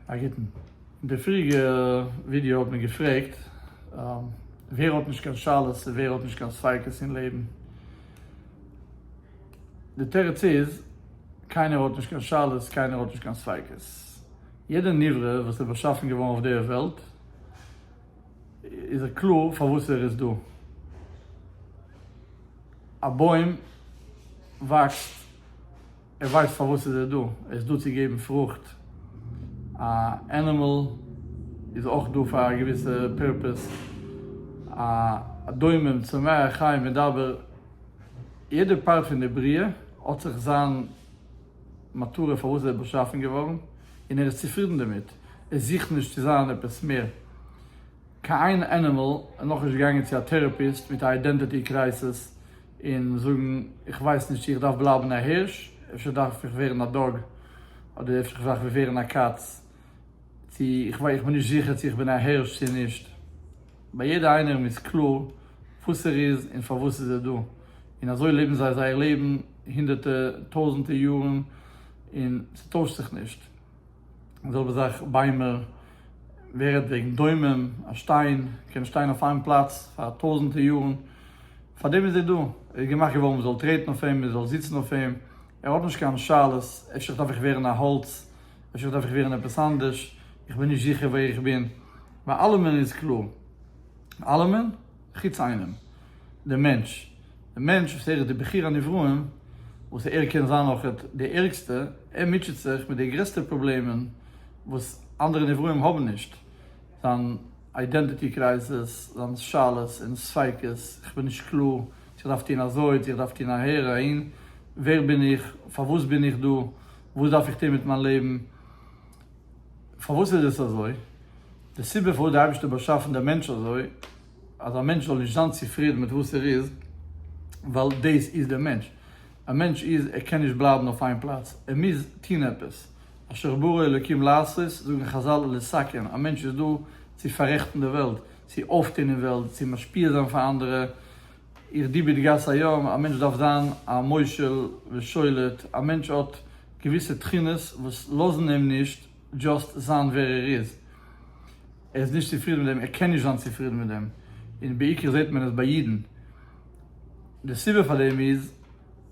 א גוטן. אין די פריעריגע ווידעא האט מען געפרעגט ווער האט נישט קיין שאלות און ווער האט נישט קיין ספיקות אין לעבן. די תירוץ איז, קיינער האט נישט קיין שאלות, קיינער האט נישט קיין ספיקות. יעדער נברא וואס איז באשאפן געווארן אויף דער וועלט איז קלאר פארוואס ער איז דא. א בוים וואקסט. ער ווייסט פארוואס איז ער דא, ער איז דא צו געבן פרוכט, א ענימעל איז אויך דא פאר א געוויסע פירפעס, א דומם צומח חי מדבר, יעדע פארט פון די בריאה האט זיך זיין מטרה פארוואס ער איז באשאפן געווארן, און ער איז צופרידן דערמיט, ער זוכט נישט צו זיין עפעס מער, קיין איין ענימעל איז נאכנישט געגאנגען צו א טעראפיסט מיט א אידענטיטי קרייסעס, און זאגן איך ווייס נישט צו איך דארף בלייבן א הירש, אפשר דארף איך ווערן א דאג, אדער אפשר איך דארף ווערן א קאץ, צו איך איך בין נישט זיכער צו איך בין א הירש צו נישט, ביי יעדע איינער'ן איז קלאר וואס ער איז און פארוואס איז ער דא, און אזוי לעבן זיי זייער לעבן הונדערטע טויזענטע יארן און ס'טוישט זיך נישט. די זעלבע זאך ביימער, ווער רעדט וועגן דומם, א שטיין קען שטיין אויף איין פלאץ פאר טויזענטער יארן, פאר דעם איז ער דא, ער איז געמאכט געווארן מען זאל טרעטן אויף אים, מען זאל זיצן אויף אים, ער האט נישט קיין שאלות, אפשר דארף איך ווערן א האלץ, אפשר דארף איך ווערן עפעס אנדערש, איך בין נישט זיכער ווער איך בין, ביי אלעמען איז קלאר, אלעמען. חוץ איינעם, דעם מענטש. דער מענטש וואס ער איז די בחור הנבראים, וואס ער קען זיין אויכעט די ערגסטע, ער מוטשעט זיך מיט די גרעסטע פראבלעמען וואס אנדערע נבראים האבן נישט, זיין אידענטיטי קרייזעס, זיין שאלות און ספיקות, איך בין נישט קלאר צו איך דארף טון אזוי, צו איך דארף טון אהער או אהין, ווער בין איך, פארוואס בין איך דא, וואס דארף איך טון מיט מיין לעבן. פארוואס איז עס אזוי? די סיבה פארוואס די אייבערשטער האט באשאפן די מענטש אזוי אז א מענטש זאל נישט זיין צופרידן מיט וואס ער איז, ווייל דאס איז די מענטש, א מענטש איז ער קען נישט בלייבן אויף איין פלאץ, ער מוז טון עפעס, אשר ברא אלוקים לעשות, זאגן חזל לסכן, א מענטש איז דא צו פאררעכטן די וועלט, צו אויפטון אין וועלט, צו משפיע זיין פאר אנדערע, איך די ביט גאס היום, א מענטש דארף זיין א מושל ושולט, א מענטש האט געוויסע תכונות וואס לאזן אים נישט דזשאסט זיין ווער ער איז, ער איז נישט צופרידן מיט דעם, ער קען נישט זיין צופרידן מיט דעם, און בעיקר זעט מען עס ביי אידן, די סיבה פאר דעם איז,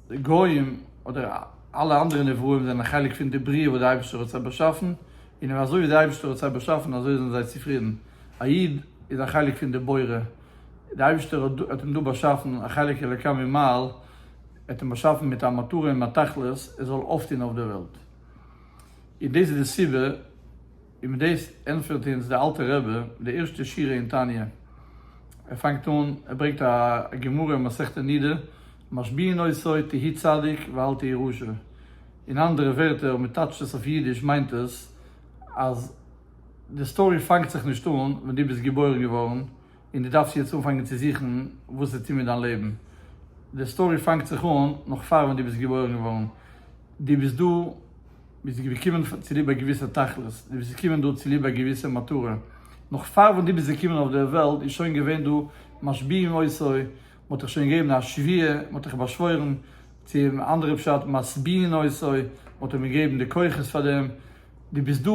די גוים אדער אלע אנדערע נבראים זענען א חלק פון די בריאה וואס די אייבערשטער האט זיי באשאפן, און אזוי ווי די אייבערשטער האט זיי באשאפן אזוי זענען זיי צופרידן, א איד איז א חלק פון די בורא, די אייבערשטער האט אים דא באשאפן א חלק אלוקי ממעל, ער האט אים באשאפן מיט א מטרה און א תכלית ער זאל אויפטון אויף דער וועלט, און דאס איז די סיבה, און מיט דאס ענטפערט אונז דער אלטער רבי די ערשטע שורה אין תניא, ער פאנגט אן, ער ברענגט א גמרא אין מסכת נידה, משביעין עשו תהי' צדיק ואל תהי' רשע, אין אנדערע ווערטער אויב מען טייטשט עס אויף אידיש מיינט עס אז. די סטארי פאנגט זיך נישט אן ווען דו ביסט געבוירן געווארן און דו דארפסט יעצט אנפאנגען צו זוכן וואס צו טון מיט דיין לעבן, די סטארי פאנגט זיך אן נאך פאר ווען דו ביסט געבוירן געווארן, דו ביסט דא, ביסט געקומען צוליב א געוויסע תכלית, דו ביסט געקומען דא צוליב א געוויסע מטרה, נאך פאר ווען דו ביסט געקומען אויף דער וועלט איז שוין געווען דא משביעים עשו, מען האט דיך שוין געגעבן א שביעה, מען האט דיך באשוואוירן, צו אנדערע פשט משביעין עשו, מען האט אים געגעבן די כוחות פאר דעם. דו ביסט דא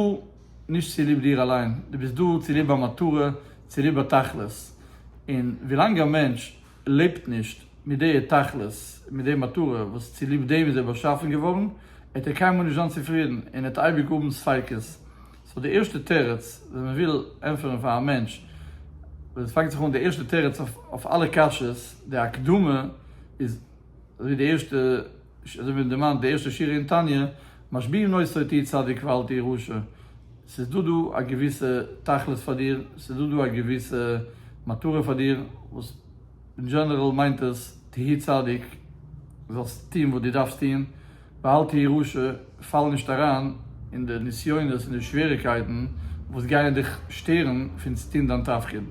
נישט צוליב דיר אליין, דו ביסט דא צוליב א מטרה, צוליב א תכלית. און ווילאנג א מענטש לעבט נישט מיט די תכלית, מיט די מטרה וואס צוליב דעם איז ער באשאפן געווארן, עט ער קיינמאל נישט זיין צופרידן און עט אייביג האבן ספיקות. סאו די ערשטע תירוץ ווען מען וויל ענטפערן פאר א מענטש, ווען עס פאנגט זיך אן די ערשטע תירוץ אויף אלע קשיות, די הקדמה איז אזויווי די ערשטע, ש, אזוי ווי מען דערמאנט די ערשטע שורה אין תניא, משביעים נאותו תהי' צדיק ואל תהי' רשע, ס'איז דא דא א געוויסע תכלית פאר דיר, ס'איז דא דא א געוויסע מטרה פאר דיר, וואס אין דזשענעראל מיינט עס תהי' צדיק, זאלסט טון וואס דו דארפסט טון, ואל תהי' רשע, פאל נישט אריין אין די נסיונות און די שוועריגקייטן וואס גייען דיך שטערן פון טון דיין תפקיד.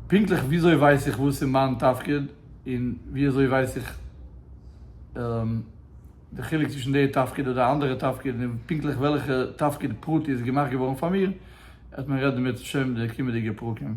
פונקטליך וויאזוי ווייס איך וואס איז מיין תפקיד? און ווי אזוי ווייס איך די חילוק צווישן די תפקיד אדער אנדערע תפקיד און פונקטליך וועלכע תפקיד פרטי איז געמאכט געווארן פאר מיר, עט מען רעדן בעזהשם די קומעדיגע פרקים.